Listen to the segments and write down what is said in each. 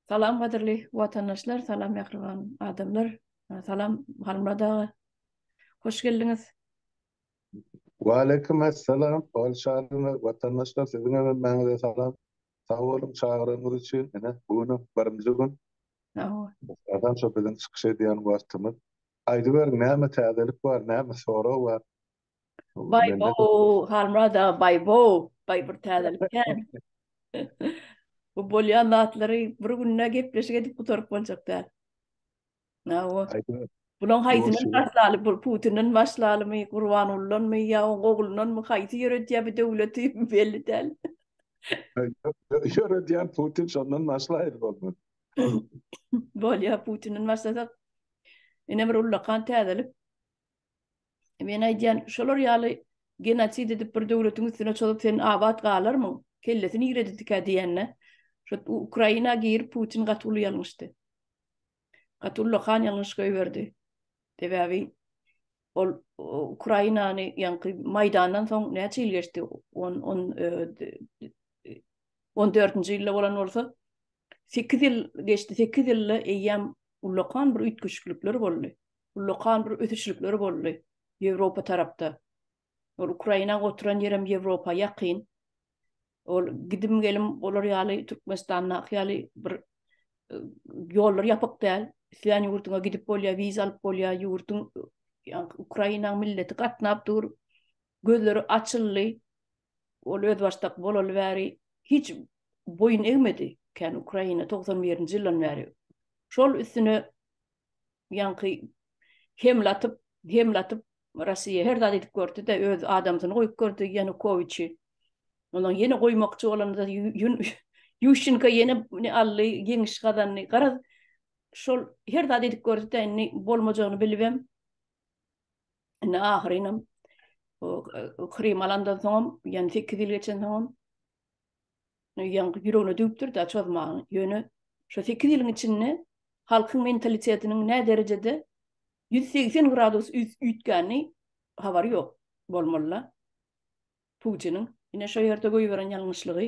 Salam gadyrly watandaşlar salam mähriban adamlar salam Halmyrat aga hoş geldiňiz. Waleýkim essalam hol şadymy watandaşlar siziň hem hemmäňize salam sag boluň çagyranyňyz üçin ine bu günüm birinji gün adam şo biziň çykyş edýän wagtymyz aýdyberiň näme täzelik bar näme sorag bar Bay Bo, Halmurad aga Bay Bo, Bay bir täzelik kän. Bu bolýan zatlary bir günde gepleşik edip gutaryp boljak däl. Na o. Bulan haýsyny başlaly, bu Putinden başlalymy, Gurbangulydanmy ýa oň oglundanmy haýsy ýöretýär bu döwleti belli däl. Ýöretýän Putin şondan başlaýar bolman. Bolýar Putinden başlasak ine bir ullakan täzelik. Men aýdýan, şolar ýaly genosid edip bir döwletiň üstüne çozup sen abat galarmyň? Kellesi niredidikä diýende, şo Ukraina girip Putin gaty uly ýalňyşdy. Gaty ullakan ýalňyş goýberdi. Sebäbi ol Ukrainany ýaňky Maýdandan soň näçe ýyl geçdi? On on on dördünji ýylda bolan bolsa, sekiz ýyl geçdi, sekiz ýylda eýýäm ullakan bir üýtgeşiklikler boldy. ullakan bir ösüşlikler boldy Ýewropa tarapda. Ol Ukraina oturan ýerem Ýewropa ýakyn. Ol gidim gelim olar ýaly Türkmenistandaky ýaly bir e, ýollar ýapyk däl. Isleýän ýurduňa gidip bolýar, wiza alyp bolýar, ýurduň ýa-da Ukraina milleti gatnap dur. Gözleri açyldy. Ol öz başdak bolaly bäri hiç boýun egmedi. Kän Ukraina 91-nji ýyldan bäri. Şol üstüne ýaňky hemlatyp hemlatyp Russiýa her zat edip gördüde öz adamsyny goýup gördi Ýanukowiçi. Ondan ýene goýmakçy bolanda Ýuşinka ýene ne aldy, ýeňiş gazandy. Garaz şol her zat edip gördüde indi bolmajagyny bilibem. Indi ahyrynam Krym alandan soňam, ýani 8 ýyl geçen soňam Ýaňky ýüregine düwüpdir-dä çozmagyň. Ýöne şu sekiz ýylyň içinde halkyň mentalitetiniň nä derejede ýüz segsen gradus üýtgänini habary ýok bolmaly-la Putiniň. Ine şo ýerde goýberen ýalňyşlygy.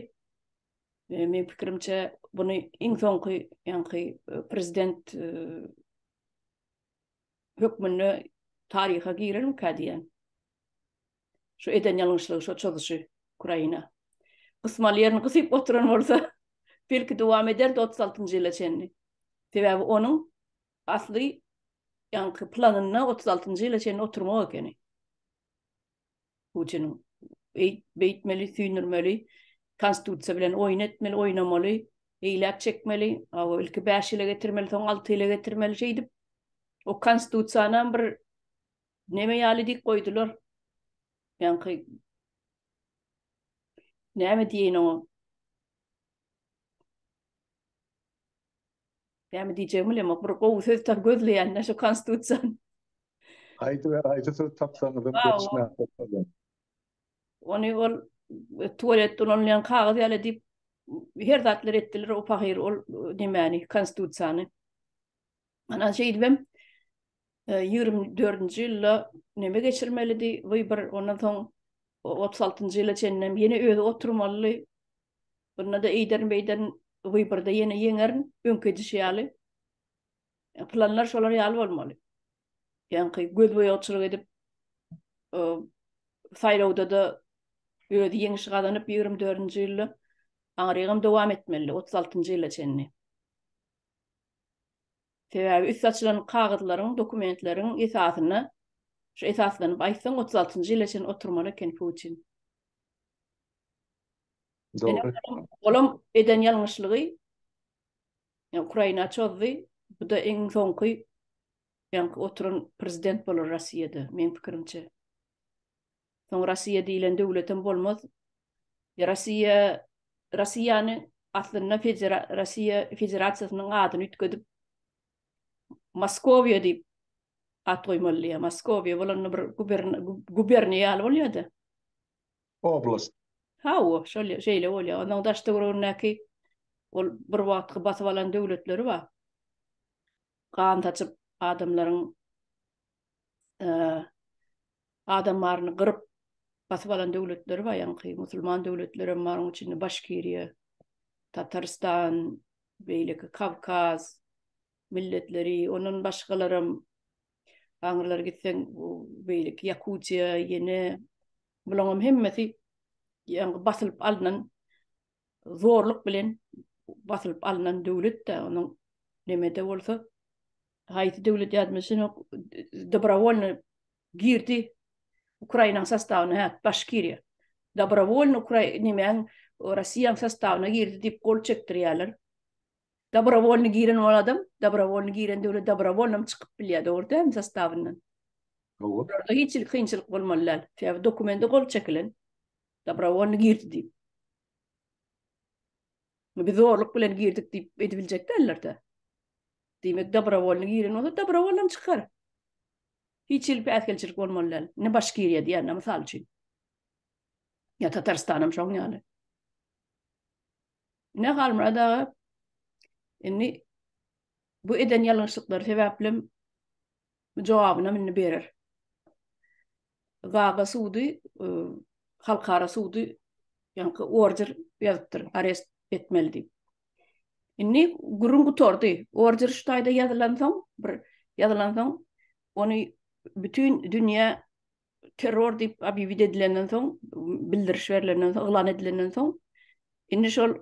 Meň pikirimçe, buny iň soňky ýaňky prezident hökmünde taryha girermikä diýýän. Şu eden ýalňyşlygy, şu çozuşy Ukraina. Gysmaly ýerini gysyp oturan bolsa, belki dowam ederdi 36-njy ýyla çenli. Sebäbi onuň asly ýaňky planynda 36-njy ýyla çenli oturmak ekeni. Putiniň beýtmeli, süýnürmeli, konstitusiýa bilen oýun etmeli, oýnamaly, eýläk çekmeli, awa ilki 5 ýyla getirmeli, soň 6 ýyla getirmeli şeýdip. O konstitusiýany bir Neme ýaly dik goýdular? Ýaňky Näme diýeýin oňa? Näme diýjegimi bilemok. Bir gowy söz tap gözleýän-dä şu konstitusiýany. Haýsy bir haýsy söz tapsaňyz hem geçmän bolýar. Ony ol e, tualetde ulanylýan kagyz ýaly diýip her zatlar etdiler o pahyr ol e, nemäni konstitusiýany. Ana şeýdibem ýigrimi dördünji ýylda neme geçirmelidi, wybor, ondan soň otuz altynjy ýyla çenlem ýene özi oturmalydy. Bunda-da eýderin-beýderin wyborda ýene ýeňerin, öňki edişi ýaly. Planlar şolar ýaly bolmaly. Ýaňky gözboýagçylyk edip, saýlawda-da özi ýeňiş gazanyp ýigrimi dördünji ýylda aňyrygam dowam etmelidi, otuz altynjy ýyla çenli. Sebäbi üsti açylan kagyzlaryň, dokumentleriň esasyna şu esaslanyp aýtsaň otuz altynjy ýyla çen oturmaly eken Putin. Dogry. Olam eden ýalňyşlygy ýa Ukraina çozdy. Bu da iň soňky ýaňky oturan prezident bolar Rossiýada meň pikirimçe. Soň Rossiýa diýlen döwletem bolmaz. Rossiýa Rossiýany aslynda Rossiýa Federasiýasynyň adyny üýtgedip Moskowiýa diýip at goýmalydy ýa Moskowiýa bolanda bir guberniýa ýaly bolýada. Oblast. Hawa, şol şeýle bolýar. Onuň daş-töweregindäki ol bir wagtky basyp alan döwletleri bar. Gan saçyp adamlaryň adam baryny gyryp basyp alan döwletleri bar ýaňky musulman döwletleri hem bar onuň içinde başkiriýa tatarstan beýleki kawkaz milletleri ondan başgalaram aňrylar gitseň bu beýleki ýakutiýa ýene bulaň hem hemmesi ýaňky basylyp alnan zorluk bilen basylyp alnan döwlet de onuň nemede bolsa haýsy döwlet ýazmyşyn ok dobrovolny girdi Ukrainaň sastawyna hä baş kirýär. Dobrovolny Ukraina nemäň Russiýaň sastawyna girdi diýip gol çekdirýärler. Dobrovolny giren ol adam, dobrovolny giren döwlet dobrovolny çykyp bilýär, dogry dälmi sastawyndan? Dogry. Hiç kynçylyk bolmaly däl. Sebäbi dokumenti gol çekilen. Dobrovolny girdi diýip. Biz zorluk bilen girdik diýip edibiljek däller-de. Diýmek, dobrovolny giren bolsa, dobrovolny çykar. Hiç hili päsgelçilik bolmaly däl. Ne Başkiriýa diýende, mysal üçin. Ya Tatarstan hem şoň ýaly. Ne Halmurad aga, indi bu eden ýalňyşlyklary sebäplim jogabynam indi berer. Gaga sudy e, halkara sudy ýaňky order ýazypdyr, arest etmeli diýip. Indi gürrüň gutardy. Order şu taýda ýazylan soň, bir ýazylan soň, ony bütün dünýä terror diýip obýewit edilenden soň, bildiriş berilenden soň, yglan edilenden soň, indi şol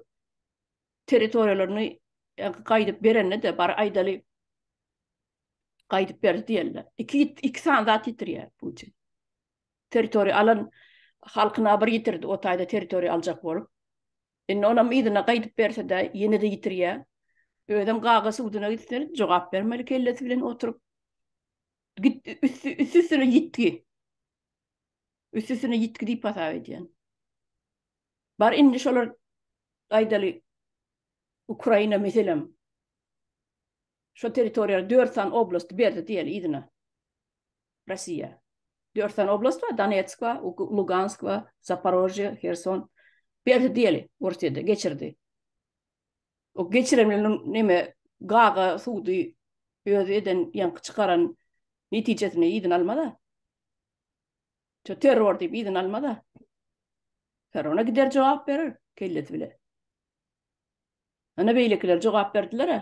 territoriýalaryny gaýdyp berende de bar aýdaly Gaýdyp berdi diýenler. Iki, iki san zat ýitirýär Putin. Territoriýa alan halkyna bir ýitirdi, o taýda territoriýa aljak bolup. Indi onam yzyna gaýdyp berse-de, ýene-de ýitirýär. Özem gaga suduna gitse, jogap bermeli kellesi bilen oturyp. Git, üsti, üstüne ýitgi. Üstüne ýitgi diýip hasap edýän. Bar indi şolar aýdaly Ukraina meselem. Şo territoriýa dört sany oblast berdi diýeli yzyna. Russiýa. Dört sany oblast bar, Donetsk bar, Lugansk bar, Zaporožýe, Herson. Berdi diýeli Orsýede geçirdi. O geçirenleriniň neme gaga sudy özi eden ýaňky çykaran netijesini yzyna almada. Şu terror diýip yzyna almada. Terrora gider jogap berer kellesi bile. Ine beýlekiler jogap berdiler-ä.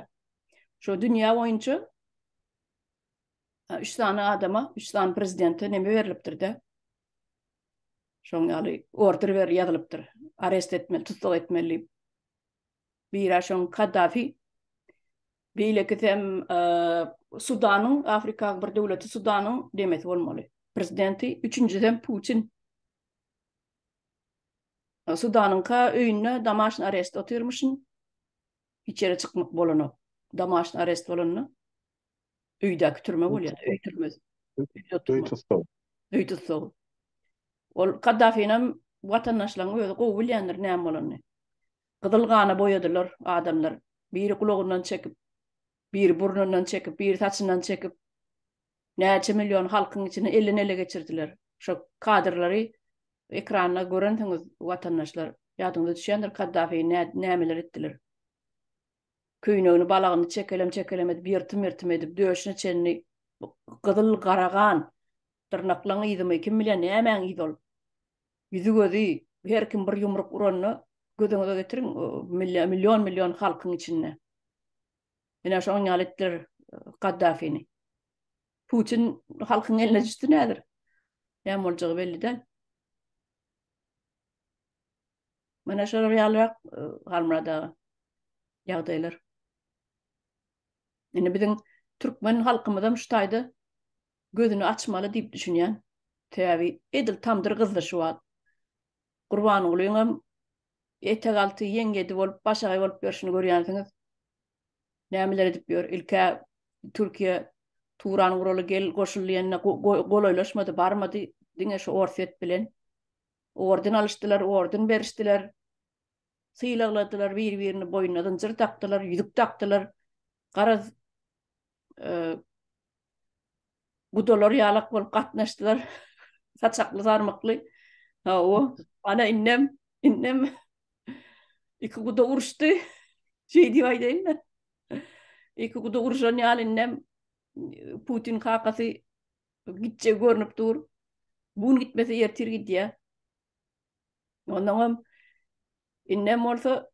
Şo dünýä boýunça üç sany adama, üç sany prezidente neme berlipdir-de? Şoň ýaly order ber ýazylypdyr. Arest etmeli, tussag etmeli diýip. Biri-ä şoň Kaddafi, beýlekisi hem Sudanyň, Afrikaň bir döwleti Sudanyň nemesi bolmaly, prezidenti, üçünjisi hem Putin. Sudanyňka öýünde domaşny arest otyrmyşyn. Hiç ýere çykmak bolanok. Domaşny arest bolanda öýdäki türme bolýar, öý türmesi. Öý tussagy. Öý tussagy. Ol Kaddafinem watandaşlaryň özi gowy bilýändir näme bolanyny. Gyzyl gana boýadylar adamlar. Biri gulagyndan çekip, biri burnundan çekip, biri saçyndan çekip. Näçe million halkyň içinden elden ele geçirdiler. Şo kadrlary ekranda görensiňiz watandaşlar. Ýadyňyza düşýändir Kaddafi nämeler etdiler. Köýnegini balagyny çekelem çekelem edip ýyrtym ýyrtym edip döşüne çenli gyzyl gara gan dyrnaklaň yzymy kim bilýär nämäň yzy ol. Ýüzi gözi her kim bir ýumruk uranda gözüňize getiriň million million halkyň içinde. Menä şoň ýaly etdiler Gaddafini. Putin halkyň eline düşdi nädir? Näme boljagy belli däl. Mana şolar ýalyrak Halmurada ýagdaýlar. Indi biziň türkmen halkymyz hem şu taýda gözüni açmaly diýip düşünýän. Sebäbi edil tamdyr gyzdy şu wagt. Gurbangulyň hem Etegalty ýeňňedi bolup, başagaý bolup ýörşüni görýänsiňiz. Nämeler edip ýör. Ilk-ä Türkiýe Turan guraly gel goşul diýende golaýlaşmady, barmady. Diňe şu Orsýet bilen orden alyşdylar, orden berişdiler. Sylagladylar, bir-birini boýnuna zynjyr dakdylar, ýüzük dakdylar. Garaz, gudalar ýalak bolup gatnaşdylar. Saçakly sarmykly. Ha o. Ana innem, innem iki guda uruşdy. Şey diýip aýdaýyn-da. Iki guda uruşan ýaly innem Putin kakasy gitje görnüp dur. Bu gün gitmese ertir gidýär. Ondan hem innem bolsa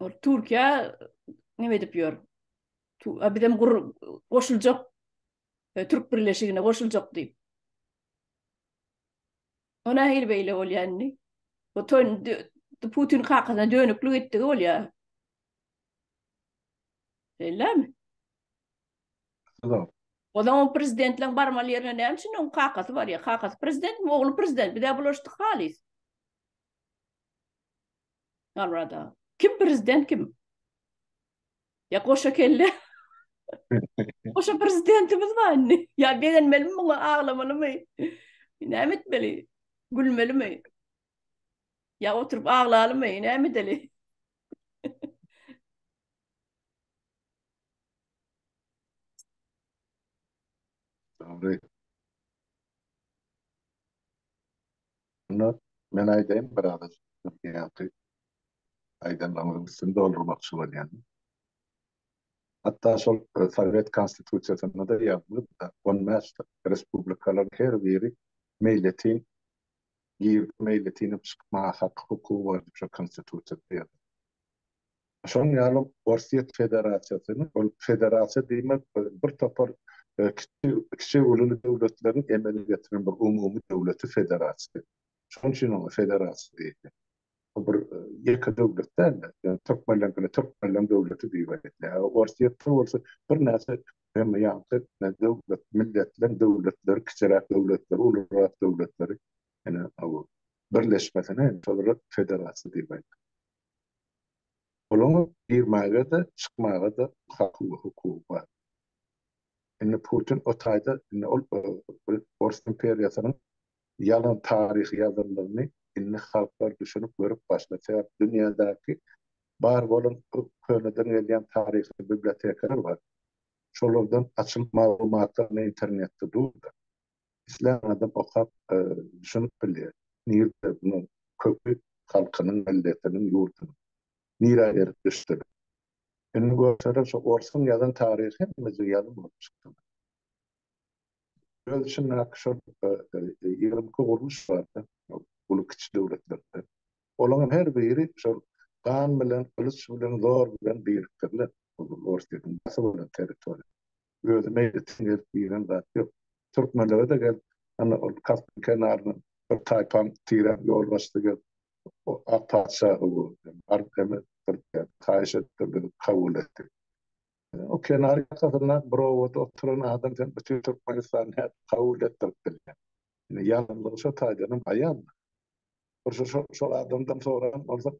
Ol Türkiýe näme edip ýör? Bizem goşuljak e, Türk birleşigine goşuljak diýip. Ona hil beýle bolýandy. Bu toýun Putin kakasyna dönüklik etdigi bolýar. Bellemi? Tamam. O zaman prezidentleň barmaly ýerine näme üçin onuň kakasy barýar? Kakasy prezidentmi, ogly prezident? Bizä bulaşdyk halys. Garrada. Kim prezident kim? Ya goşa kelle. goşa prezidentimiz bar indi. Ya begenmeli mi muňa aglamaly mi? Näme etmeli? Gülmeli mi? Ya oturup aglaly mi? Näme edeli? Dogry. Şonda men aýdaýyn bir agajyk nesihaty. Aýdanlaryňyzyň üstüni doldurmakçy bolýan. Hatda şol Sowet Konstitusiýasynda-da ýazylybda, on bäş respublikalaryň her biri meýletin girip, meýletin hem çykmaga haky, hukugy bar diýip şol Konstitusiýada ýazylypdyr. Şonuň ýaly Orsýet Federasiýasynyň, ol federasiýa diýmek bir topar kiçi, kiçi-ululy döwletleriň emele getiren bir umumy döwleti federasiýa. Şonuň üçin oňa federasiýa diýilýär. Bu bir ýeke döwlet däl-de, ýöne türkmenlerkine türkmenleriň döwleti diýip aýdylýar. Orsýetde bolsa birnäçe hem ýaňky döwlet, milletleriň döwletleri, kiçiräk döwletleri, ulurak döwletleri, ýene birleşmesine şolara federasiýa diýip aýdýar. Olaň girmäge-de, çykmaga-da haky we hukugy bar. Indi Putin o taýda, indi ol Ors imperiýasynyň ýalan taryhy ýazandygyny indi halklar düşünip, görüp başlady. Sebäbi dünýädäki bar bolan köneden gelýän taryhy bibliotekalar bar. Şolardan açyp maglumatlaryny internetde dur-da. Islän adam okap düşünip bilýär. Nirde munuň köki halkynyň milletiniň ýurdunyň. Nirä erip düşdüler. Indi görseler şo orsuň ýazan taryhy hemmejig ýalan bolup çykdylar. Öz içindäki şol ýigrimi iki gurluş barda uly kiçi döwletlerde. Olaryň her biri şol gan bilen gylyç bilen zor bilen birikdirilen ol orsyýetiň basyp alan territoriýasy. özüme ýetim gelip giren zat ýok. Türkmenlere-de gel, ana, ol Kaspyň kenaryna bir taýpaň tirän ýolbaşçysy gelip, o ak patyşahy gördi. Baryp hem etdirdi, haýyş etdirdi, kabul etdi. O kenar ýakasyndaky bir obada oturan adam sen bütin Türkmenistany nädip kabul etdirip bilýäň? Ýalňyzlygy şo taýdanam aýan-da. Bir şol adamdan soran bolsa,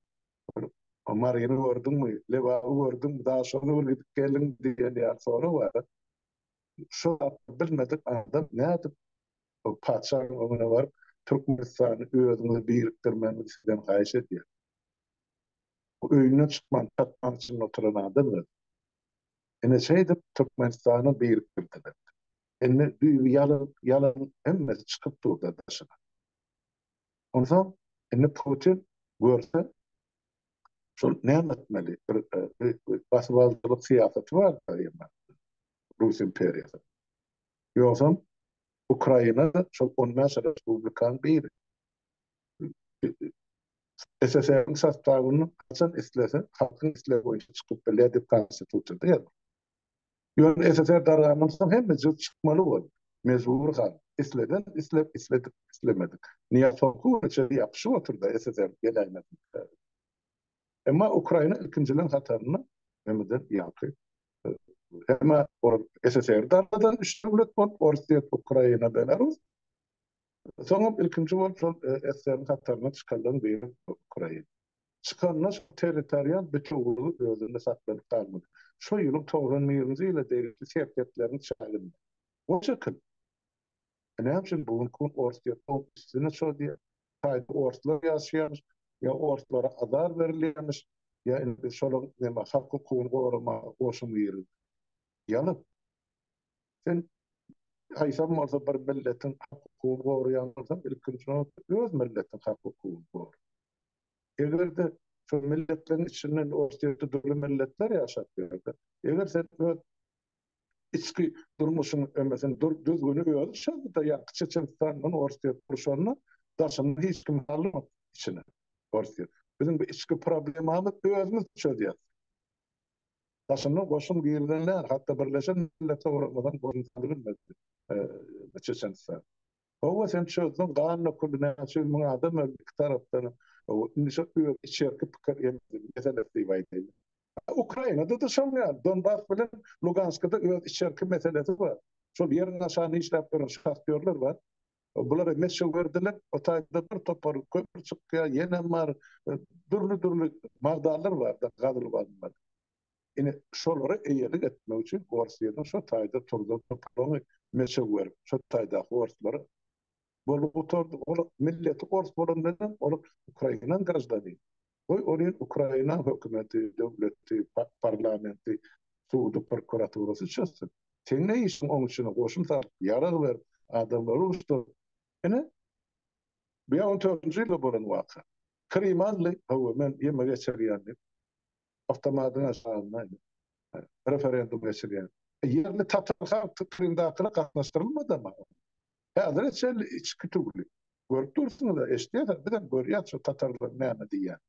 Maryny gördüňmi, Lebaby gördüňmi, Daşogza bir gidip geldiňmi diýen ýaly sorag bar. Şu zatda bilmedik adam nädip patyşanyň öňüne baryp, Türkmenistany özüňize birikdirmegini sizden haýyş edýän. Bu öýünden çykman, çatman içinde oturan adam özi. Ine şeýdip Türkmenistany birikdirdiler. Indi düýbi ýalyp, ýalan hemmesi çykyp dur-da daşyna. Onsoň indi Putin görse, şol näme etmeli? Bir basybalyjylyk syýasaty bar daýymyň Rus imperiýasynyň. Ýogsam Ukraina şol on bäş respublikanyň biri. SSR-iň sostawyny haçan islese, halkyň islegi boýunça çykyp bilýär diýip konstitusiýada ýazylýar. Ýöne SSR dargandan soň hemme jyg çykmaly boldy. Mejbur galdyk. Isleden islep, isledik islemedik. Nyýaz soňky güne çenli ýapyşyp otyrda SSR geläýmesin diýip. Emma Ukraina ilkinjileriň hatarynda hemeden ýaňky hemä ol SSR dargadan üç döwlet bolup, Orsýet, Ukraina, Belarus. Soňam ilkinji bolup şol SSR-iň hataryndan çykanlaryň biri ukrain. Çykanda şol territorial bütewiligi özünde saklanyp galmaly. Şo ýylyň togsan birinji ýyla degişli serhetleriň çäginde. O şekil. E näme üçin bu günki gün ors diýip howp üstüne şo diýip taýda orslar ýaşaýarmyş ýa orslara azar berilýärmiş ýa indi biz şolaryň neme halk hukugyny goramaga goşumy girgizdik. Ýalan. Sen haýsam bolsa bir milletiň hak-hukugyny goraýan bolsaň, ilkinji nobatda öz milletiň hak-hukugyny gora. Eger-de şol milletleriň içinden Orsýetde dürli milletler ýaşap ýörse, eger sen öz içki durmuşyň emesini dur, düzgüni özi çyzdy-da, ýaňky Çeçenistandan Orsýet gurşanda, daşyndan hiç kimi salmadyk içine Orsýet. Biziň bu içki problemamyz özümiz çözýäs. Daşyndan goşun girizilende hatda Birleşen Milletler Guramazan goşun salbilmedi Çeçenistana. Howwa sen çözdüň ganly kully näçe ýüz müň adam öldi iki tarapdan indi şo öz içerki pikir emzin meselesi diýip aýdaýyn. Ukrainada-da şol ýaly Donbas bilen Luganskada öz içerki meselesi bar. Şol ýeriň aşagyny işläp ýören şahtýorlar bar. Bulara meşig berdiler. O taýda bir topar kömür çykýar, ýenem bar. Dürli-dürli magdanlar bar-da gazylyp alynmaly. Ine, şolara eýelik etmek üçin Orsýetiň şo taýda turdan topragyny meşig berip, şo taýdaky orslary bolup gutardy. Olar milleti ors bolandan hem olar ukrainan graždanini. Goý, olyň Ukraina hökümeti, döwleti, parlamenti, sudy, prokuraturasy çözsün. Seň ne işiň oň içine goşun salyp, ýarag berip, adamlary uruşdyryp? Ine, bu ýa on dördünji ýylda bolan waka. Krym aldy, hawa, men ýeme geçirýän diýip, awtomatyň aşagynda referendum geçirýär. Ýerli tatar halky Krymdakylar gatnaşdyrylmadama? Häzire çenli içki tüwli. Görüp dursuňyz-a, eşidýärsiňiz, biz hem görýäs şu tatarlaryň näme diýýänini.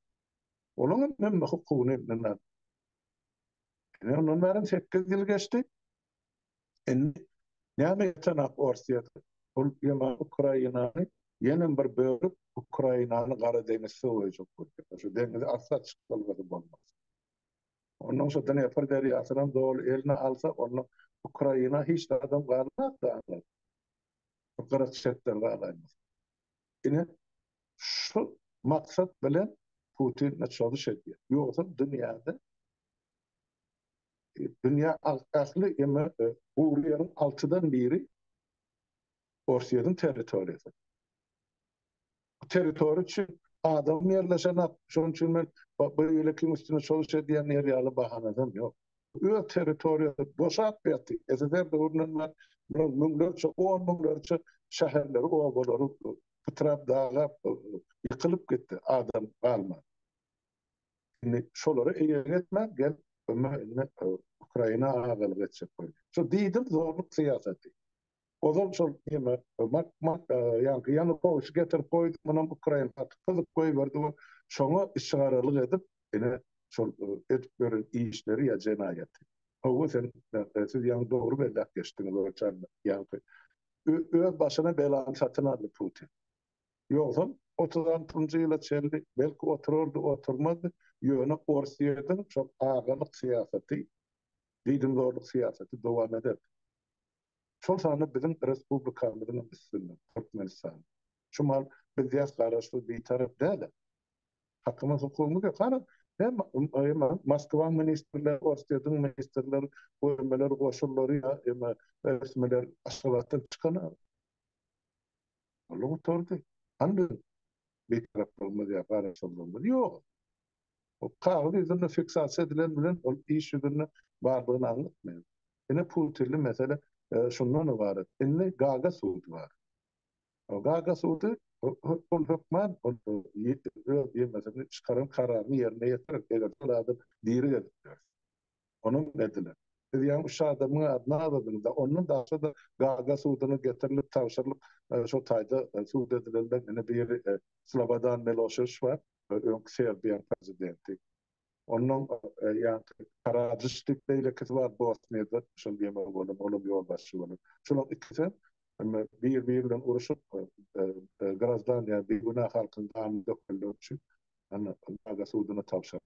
Olaň hem hemme hukugyny elinden Ine, ondan bäri sekiz ýyl geçdi. Indi näme ýetenak Orsýetde? Ol ýene Ukrainany, ýenem bir bölüp, Ukrainany Gara deňiz söweýjek bolýar. Şu deňizi arsa çykdylgasy bolmaz. Ondan soň Dnepr derýasynam doly eline alsa, onda Ukraina hiç zadam galmaz da. Bu gyrak çetler galaýmaz. Ine, şu maksat bilen Putin çozuş edýär. Ýogsa dünýäde dünýä ähli gury ýeriň altydan biri Orsýetiň territoriýasy. Bu territoriýa üçin adam ýerleşenak, şonuň üçin men beýlekiň üstüne çalyş edýänler ýaly bahanasam ýok. Öz territoriýasy boşap ýaty, SSR döwründen bäri bular müňlerçe, on müňlerçe şäherleri, obalary pytrap, dagap, ýykylyp gitdi, adam galman. Indi şolara eýelik etmän gelip Ukraina agalyk etjek bolýar. Şu diýdim zorluk syýasaty. Ozal şol neme mak mak ýaňky Ýanukowyçy getirip goýdy, munam ukrain haky gyzyp goýberdi we şoňa işgaralyk edip, ine, şol edip ýören işleri ýa jenaýaty. Hawa, sen, siz ýaňy dogry belläp geçdiňiz, Orçan, ýaňky öz başyna belany satyn aldy Putin. Ýogsam, otuz altynjy ýyla çenli belki oturardy, oturmazdy, ýöne Orsýetiň şol agalyk syýasaty, diýdimzorluk syýasaty dowam ederdi. şol sanda biziň respublikamyzyň üstünde, Türkmenistan. Şumal biz ýas garaşsyz bitarap däl-ä. Hakymyz hukugymyz ýok. Hany, hemma Moskwaň ministrleri, Orsýetiň ministrleri, göremeler, goşunlary ýa emma resmiler Aşgabatdan çykana. Ol gutardy. Hany biziň bitaraplygymyz ýa garaşsyzlygymyz ýog. Kagyz ýüzünde fiksasiýa edilen bilen ol iş ýüzünde bardygyny aňlatmaýar. Ine purtilli mesele şundan ybarat. Indi Gaga sudy bar. Gaga sudy ol hökman ol öz ýeňlesini çykaran kararyny ýerine ýetirer, eger-de ol adam diri gezip ýörse. Onuň edile, Siz ýaňy üç adamyň adyny azadyňyz-a, ondan daşda-da Gaga suduna getirilip tabşyrylyp, şo taýda sud edilenler ine biri Slobodan Miloşewiç bar, öňki Serbiýanyň prezidenti. Ondan ýaňky Karadžiç diýip beýlekisi bar, Bosniýada şol ýeňiji bolan, ol hem ýolbaşçy bolan. Şolaryň ikisi hem bir-biri bilen uruşyp, graždan, ýagny bigünä halkyň ganyny dökenleri üçin, ine, Gaga suduna tabşyryldy.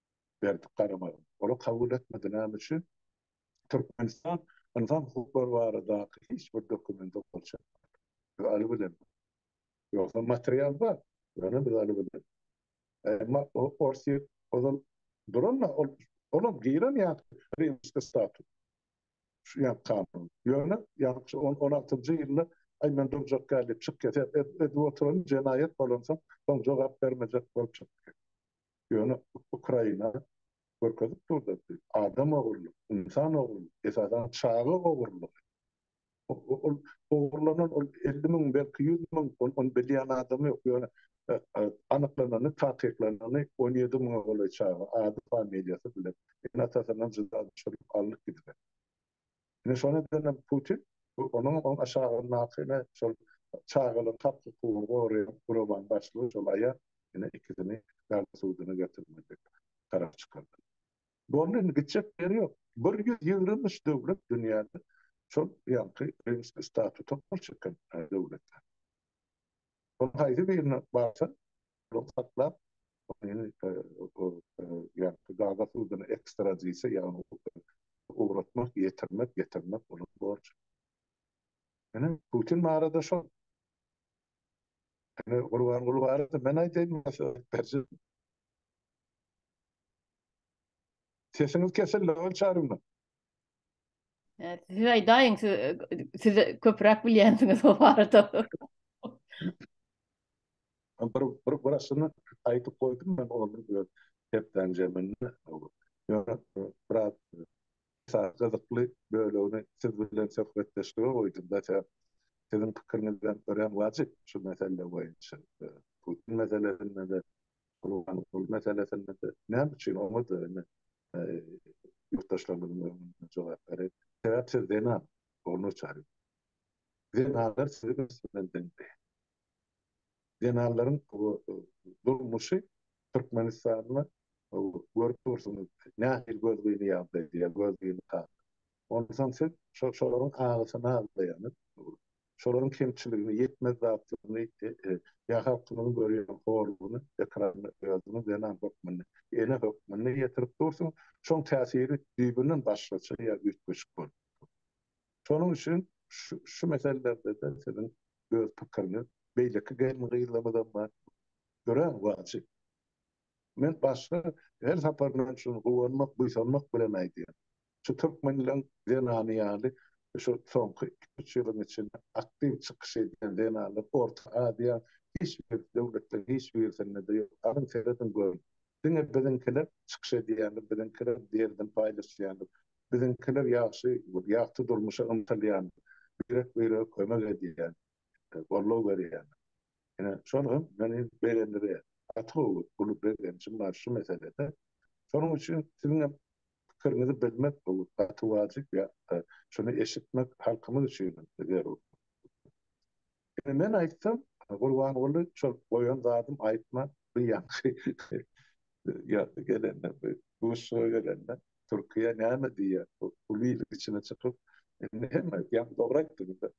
berdik garamagyň. Olar kabul etmedi näme üçin? Türkmenistan ynsan hukuklary baradaky hiç bir dokumenta gol çekmedi. Biz aly bilen. Ýogsa material bar. Ýöne biz aly bilen. Emma Orsýet ozal duranda ol olam giren ýaly rimski status. Şu ýa kanun. Ýöne ýa-da şu on on altynjy ýylda aý men durjak däl diýip çykyp ket. Edip oturan jenaýat bolansoň soň jogap bermejek bolup çykyp ket. Ýöne Ukraina görkezip durdy, adam ogurlyk, ynsan ogurlyk, esasan çaga ogurlygy. Ol ogurlanan ol elli müň, belki ýüz müň, ony bilýän adam ýok. Ýöne anyklanany, takyklanany on ýedi müňe golaý çaga, ady-familiýasy bilen, ene-atasyndan jyda düşürip alnyp gidilen. Ine şonuň üçinem Putin onuň oň aşagyndaky ine şol çagalar hak hukugyny goraýan guramanyň başlygy şol aýal ine ikisini garry suduny getirmedik tarap çykardy. Boldy indi gitjek ýeri ýok. Bir ýüz ýigrimi üç döwlet dünýäde şol ýaňky rimski statuta gol çeken döwletler. Onuň haýsy birine barsa, ol saklap, ony ýa-da gazak suduna ekstradisiýa, ýagny ugratmak, ýetirmek, getirmek onuň borjy. Ine, Putin barada şol. Ine, Gurbanguly barada men aýdaýyn, maslahat berjek. Sesiňiz kesildi, Ýonuç Arynow. Siz aýdaýyň, siz, siz köpräk bilýänsiňiz bu barada. bir, bir, bir aslında aýdyp goýdum ben onu öz hepden jeminde. Ýöne biraz esas gyzykly bölegini siz bilen söhbetdeşlige goýdum da sen siziň pikiriňizden örän wajyp şu mesele boýunça. Putin meselesinde de, Gulban gul meselesinde de, näme üçin oňa da ýurtdaşlarymyzyň öňünde jogap berip, sebäp siz zenan, ol noçary. Zenanlar sizi ösdürmeli däldi. Zenanlaryň bu durmuşy Türkmenistanda görüp dursuňyz, nähili gözgyny ýagdaý diýýär, gözgyny Onsoň siz şo-şolaryň agysyny aglaýaňyz, şolaryň kemçiligini, ýetmez zatlaryny, e-e-ýa halkyňyzyň görýän horlugyny ekranda özüňiz zenan hökmünde, ene hökmünde ýetirip dursuň, şoň täsiri düýbünden başgaça ýa üýtgeşik bolup dur. Şonuň üçin şu-şu meselelerde-de siziň öz pikiriňiz, beýleki gelin-gyzlarymyzam bar, örän wajyp. Men başda her saparyndan şuny guwanmak, buýsanmak bilen aýdýan. Şu türkmenleň zenany ýaly şu soňky iki-üç ýylyň içinde aktiw çykyş edýän zenanlar Orta Aziýa hiç bir döwletleriň hiç birisinde-de ýok. Alyň serediň görüň. Diňe biziňkiler çykyş edýändir, biziňkiler derdini paýlaşýandyr. Biziňkiler ýagşy, ýagty durmuşa ymtylýandyr. Birek-birege kömek edýändir, goldaw berýändir. Ine, şol hem meni begendirýär. Gaty gowy, uly begenjim bar şu meselede. Şonuň üçin siziň hem pikiriňizi bilmek bu gaty wajyp ýa-da şuny eşitmek halkymyz üçin hem zerur. Ine, men aýtsam, Gurbanguly, şol goýan zadym aýtma, bu ýaňky ýazdy gelende, bu duşuşyga gelende, Türkiýe näme diýýär, bu uly iliň içine çykyp, indi hemme ýaňky dogry aýtdyňyz-da,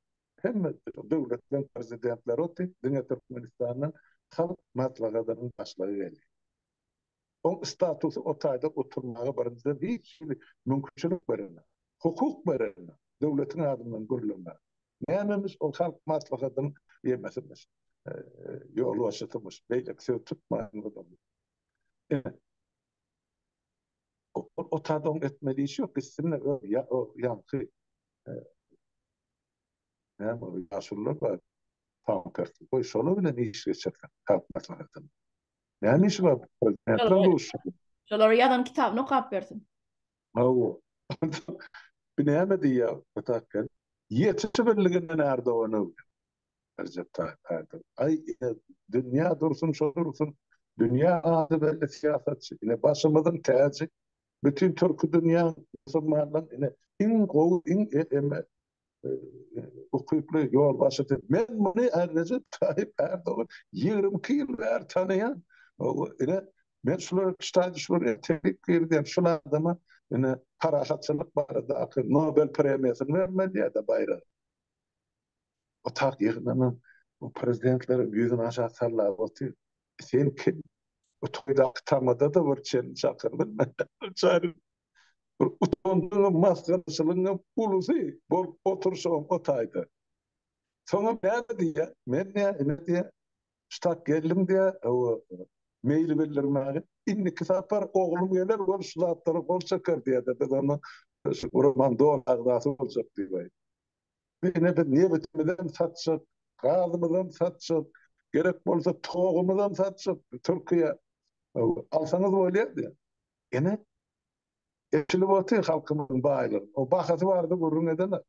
Hemme döwletleriň prezidentleri otdy, diňe Türkmenistanyň Halk Maslahatynyň başlygy geldi. Oň statusy o taýda oturmaga birinjiden hiç hili mümkinçilik berenok, hukuk berenok, döwletiň adyndan gürlemäge. Nämemyş ol Halk Maslahatynyň ýemesimyş, ýolbaşçysymyş, beýleki söz tutmaýan adamymyş. Ine, Otada oň etme diýiş ýok, gitsin o ýa o ýaňky näme o ýaşulylar bar, tam tersi, goý şolar bilen iş geçirsin, halk maslahatyny. Näme işi bar prezidentler duşuşygy. Şolara ýazan kitabyny okap bersin. Hawa. Bu näme diýýär, Otak gelip, Ýetiş birligine närde onuň? Rejep Taýyp Erdogan, Aý ine, dünýä dursun şo dursun, dünýä ady belli syýasatçy, ine, başymyzyň täji, bütin türki dünýäň, musulmanlaryň, ine, iň gowy, iň eme ukyply ýolbaşçysy. Men muny Rejep Taýyp Erdogan ýigrimi iki ýyl bäri tanaýan. Ine, men şular ştaýy şular entegrik girdim, şul adama, ine, parahatçylyk baradaky Nobel premiýasyny bermeli ýa-da baýragy. Otag ýygnanyň bu prezidentler ýüzüni aşak sallap otyr. Sen kim? Bu toýdaky tamada-da bir çen çakylyň. Çary bir utanjyňam, masgaraçylygyňam ulusy bol oturşyňam o taýda. Soňam näme diýýä? Men diýä, ine diýä, ştat geldim diýä, hawa, meýil bildirmäge. Indiki sapar oglum geler, ol şu zatlara gol çeker diýä-de, biz onda şu guraman doly agzasy boljak diýäýip. Bu ine biz nebitimizem satjak, gazymyzam satjak, gerek bolsa togumyzam satjak Türkiýä alsaňyz bolýardy. Ine eçilip otyr halkymyzyň baýlygy. O bahasy bardy gürrüň edene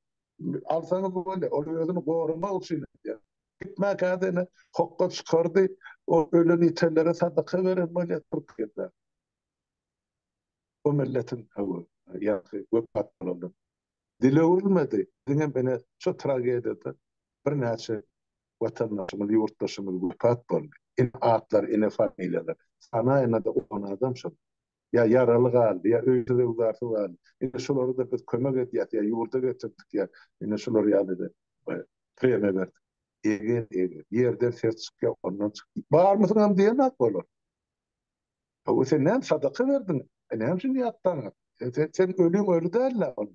alsaňyz bolýar. Ol özüni goramak üçin edýär. Gitmäkäde ine hokga çykardy. O ölen ýitenlere sadaka beren bolýar Türkiýede. Bu milletiň hawa ýaňky wepat bolanlar. Dil öwrülmedi, diňem ine şu tragediýada birnäçe watandaşymyz, ýurtdaşymyz wepat boldy. Ine atlar, ine familiýalar. Sanaýyna-da on adam şol. Ýa ýaraly galdy, ýa öýsüz-öwzarsyz galdy. Ine şulara-da biz kömek edýäs, ýa ýurda getirdik, ýa ine şular ýaly-da premiýa berdik. Eger-eger, ýerden ses çykýar, ondan çykýar. Barmysyňam diýen zat bolar. Hawa, sen näme sadaka berdiň? E, näme üçin ýatdaňyz? E, sen ölüň öli däl-le ol.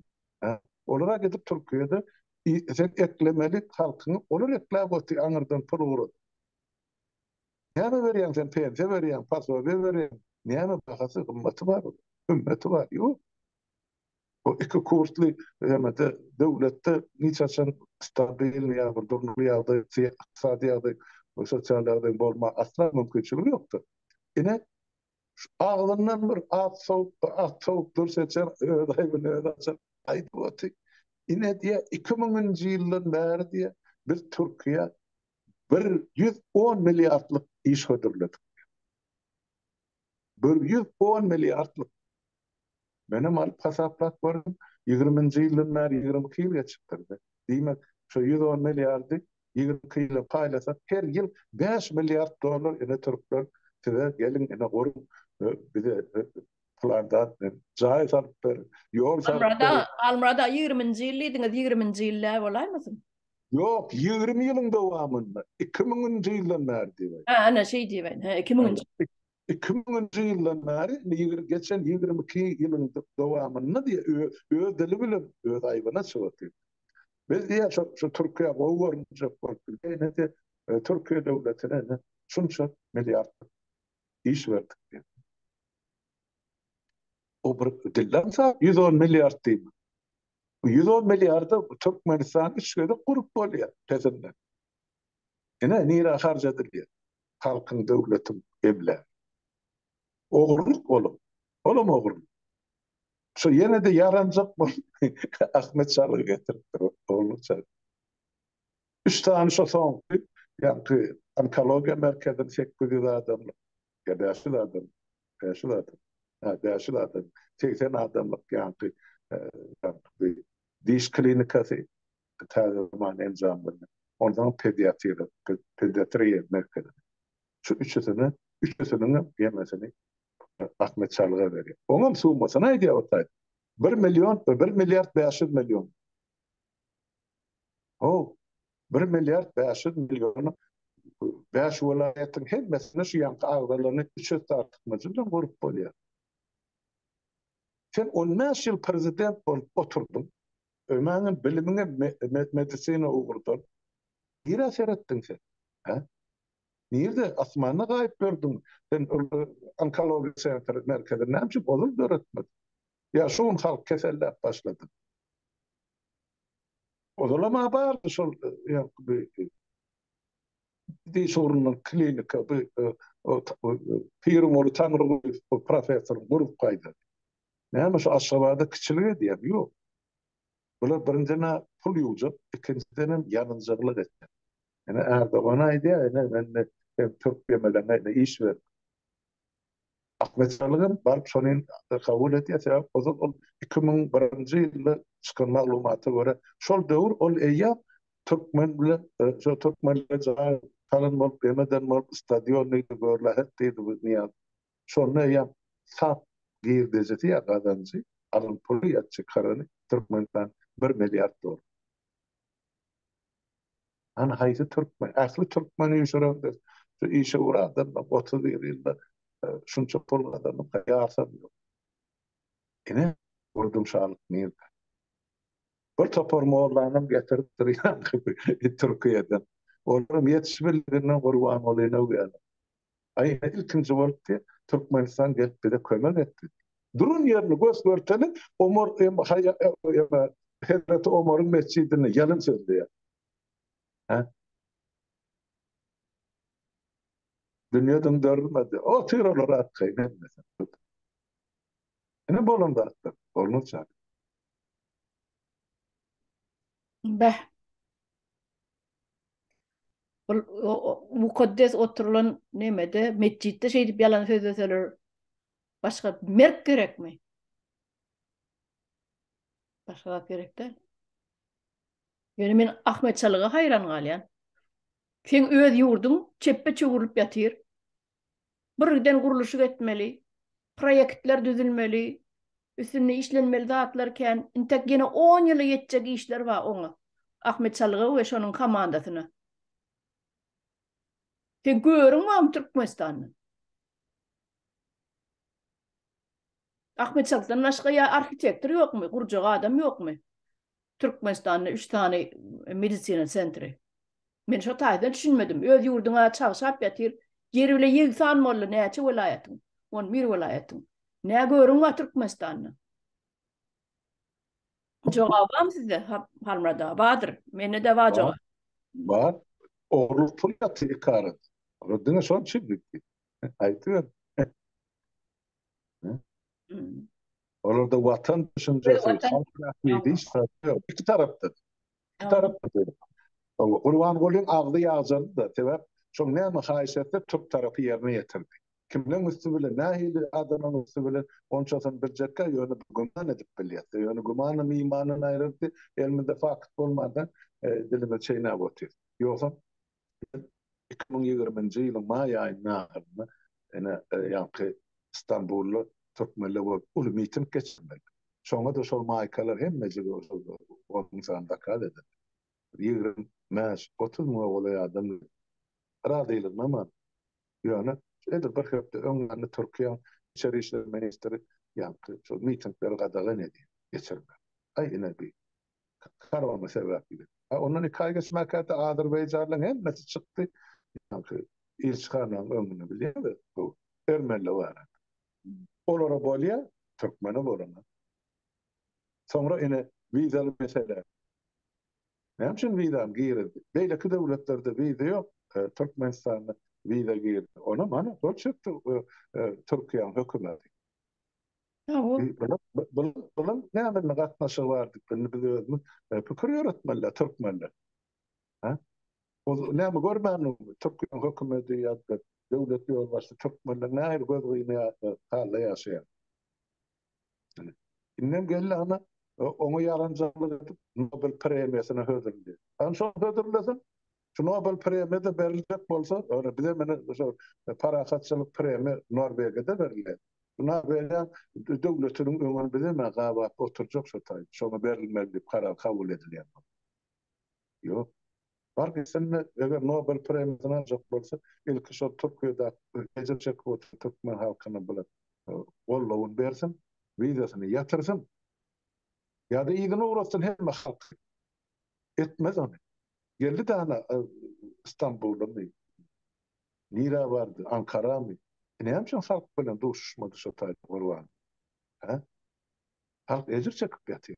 Hä? Olar-a gidip Türkiýede sen eklemeli halkyňy olar ekläp otyr, aňyrdan pul ugradyp. Näme berýäň sen, pensiýa berýäň, posobiýe berýäň, näme bahasy, gymmaty bar ol, hümmeti bar? Ýok. Bu iki kursly hemede döwletde hiç haçan stabilnyý ýa bir durnukly ýagdaý, ykdysady ýagdaý we sosial ýagdaýyň bolmaga asla mümkinçiligi ýokdur. Ine, agzyndan bir at sowup, bir at sowup durş eçer, öz aýbyny özi açar. Aýdyp oty. Ine diýe, iki müňünji ýyldan bäri diýe, biz Türkiýä bir ýüz on milliardlyk iş hödürledik diýe. Bir ýüz on milliardlyk. Menem alyp hasaplap gördüm. Ýigriminji ýyldan bäri ýigrimi iki ýyl geçipdir-de. Diýmek, şo ýüz on milliardy ýigrimi iki ýyla paýlasak, her ýyl bäş milliard dollar ine türkler size geliň ine guruň, bize plan zat beriň, jaý salyp beriň, ýol salyp beriň. Halmyrat aga, Halmyrat aga ýigriminji ýyl diýdiňiz, ýigriminji ýyl däl bolaýmasyn? Ýok, ýigrimi ýylyň dowamynda, iki müňünji ýyldan bäri diýibä. Hä, ana, şeý diýibä, hä, iki müňünji. Iki müňünji ýyldan bäri, indi ýigri, geçen ýigrimi iki ýylyň dowamynda diýýä, öz dili bilen öz aýbyna çykyp diýip. Biz diýýä, şo, şo Türkiýä gowy görünjek bolup diýýä, ine diýýä, Türkiýe döwletine ine şunça milliardlyk iş berdik diýip. O bir dilden sap ýüz on milliard diýip. Ýüz on milliarda Türkmenistan üç gezek gurup bolýar peşinden. Ine, nirä harç edilýär? Halkyň, döwletiň emlägi. Ogurlyk ol. Olam ogurlyk. Şo ýene-de ýaranjak bolup Ahmet Çalygy getiripdir, ogurlyk çalygy. Üç sany şo soňky, ýaňky onkologiýa merkezini, sekiz ýüz adamlyk, ýa bäş ýüz adam, bäş ýüz adam, hä, bäş ýüz adam, segsen adamlyk ýaňky diş klinikasy, täze zaman enjamlaryny, onsoň pediatriýa, pediatriýa merkezi. Şu üçüsini, üçüsiniň hem ýeňlesini Ahmet Çalyga berýär. Oňam summasyny aýdýar, bir million, bir milliard bäş ýüz million. O bir milliard bäş ýüz million bäş welaýatyň hemmesini şu ýanky agzalaryny üç ýüz artykmajy bilen gurup bolýar. Sen on bäş ýyl prezident bolup oturdyň. Ömäňem bilimiňem medisina ugurdan. Nirä seretdiň sen? Hä? Nirde asmanda gaýyp gördüň? Sen onkologiýa sentri merkezini näme üçin ozal döretmediň? Ýa şu gün halk keselläp başlady. Ozalam a bardy şol diş ugrundan klinika bu Pirimoly Taňrygulyýew bu professor gurup gaýdady. Näme şu Aşgabada kiçilik edýärmi? Ýok. Bular birinjiden-ä pul ýuwjak, ikinjiden hem ýalynjyglyk etjek. Ine Erdogan aýdýar, ine men türk ýemeleňe ine iş berdim. Akmeçalygam baryp şony kabul edýär, sebäbi ozal ol iki müň birinji ýylda çykan maglumata görä, şol döwür ol eýýäm türkmen bilen şo türkmenler jaý salan bolup, emeden bolup, stadion diýdi, görlähet diýdi bu Nyýaz. Şonda eýýäm sap girdejisi ýa gazanjy, alan puly ýa çykarany Türkmenistan bir milliard dollar. Hany haýsy türkmen, ähli türkmen üýşüreňdir, şu işe bir adamdan otuz bir ýylda şunça pul gazanyp gaýarsam ýok. Ine, gürrüň şalyk nirde? Bir topar mollanam getirip durýaňky Türkiýeden. Olaram ýetişmeliginden gurban bolýan öwgäne. Aýna ilkinji bolup ki Türkmenistan gelip bize kömek etdi. Duran ýerini gös görteli Omar em haýa em Hezreti Omaryň mesjidini ýalyn sözleýär. He? Dünýe döndürilmedi. Otyr olar atgaýyn etmesin. Ine bolan zatlar. Bolmaz çak. Beh. Ol mukaddes oturylan nemede, metjitde şeýdip ýalan sözleseler, başga merk gerekmi? Başga zat gerek däl. Ýöne men Ahmet Çalyga haýran galýan. Seň öz ýurduň çepbe çöwrülip ýatyr. birgiden gurluşyk etmeli, proýektler düzülmeli, üstünde işlenmeli zatlar kän, intek ýene on ýyla ýetjek işler bar oňa, Ahmet Çalyga we şonuň komandasyna. Sen görüň barmy Türkmenistandan? Ahmet Çaltdan başga ýa arhitektor ýokmy, gurjak adam ýokmy? Türkmenistanda üç sany medisina sentri. Men şo taýdan düşünmedim. Öz ýurduňa çagşap ýatyr. Ýeri bile ýegsan boldy näçe welaýatyň? On bir welaýatyň. Nä görüň bar Türkmenistanda? Jogap barmy sizde, Halmyrat aga? Bardyr. Mende-de bar jogap. Bar. Ogurlyk pul ýatyr iki arada. Diňe şony çüzdük. Aýdyber. Olarda watan düşünjesi, halk rahmeti hiç tarapda ýok. Iki tarapda. Iki tarapda da. Gurbangulyň agzy ýagjalydy-da, sebäp şol näme haýyş etse, türk tarapy ýerine ýetirdi. Kimleň üsti bilen, nähili adamlaryň üsti bilen, onçasyny biljekkä, ýöne bir güman edip bilýäs-de. Ýöne gümanam imandan aýryldy. Elimizde fakt bolmandan, dilimizi çeýnäp otyrys. Ýogsam, Biz iki müň ýigriminji ýylyň maý aýynyň ahyrynda ene ýaňky Stambulda türkmenler bolup uly miting geçirmedik. Şoňa-da şol maýkalar hemmejige uşul gonuň sany zakaz edildi. Ýigrimi bäş, otuz müňe golaý adam geldi. Razylanamadyk. Ýöne edil bir hepde öň ýanly Türkiýäň içeri işler ministri ýaňky şol mitingleri gadagan edýär geçirmegi. Aý ine bi Korona sebäpli. Ondan iki aý geçmäkäte azerbaýjanlyň hemmesi çykdy. Ýaňky ilçihananyň öňünde bilýärler, bu ermeniler bar. Olara bolýa, türkmene bolana. Soňra ine wizaly mesele. Näme üçin wizany girizdi? Beýleki döwletlerde wiza ýok, Türkmenistanda wiza girdi. Onam ana şol çykdy Türkiýäniň hökümeti. Bunuň näme gatnaşygy bar diýip, indi biz özümiz pikir ýöretmelidir türkmenler. Hä? Ol näme görmändiňizmi? Türkmen hökümeti ýa-da döwlet ýolbaşçysy türkmenler nähili gözgyny halda ýaşaýar? Indem geldi ana, oňa ýalanjalyk edip Nobel premiýasyna hödürleýär. Hany şol hödürlesin, Şu Nobel premiýa-da beriljek bolsa, ýöne bize menä şu parahatçylyk premiýa Norwegiýa-da berilýär. Bu Norwegiýa döwletiniň öňüni bizem-ä gabap oturjak şu taý. Şoňa berilmeli diýip karar kabul edilýän bolsa. Ýok. Bar gitsin-de, eger Nobel premiýasyny aljak bolsa, ilki şol Türkiýedäki ejir çekip oturan türkmen halkyna bilen goldawyny bersin, wizasyny ýatyrsyn. Ýa-da yzyna ugratsyn hemme halky. Etmez ony. Geldi dana Stambulamy, nirä bardy, Ankaramy? Näme üçin halk bilen duşuşmady şo taýda Gurban? Hä? Halk ejir çekip ýatyr.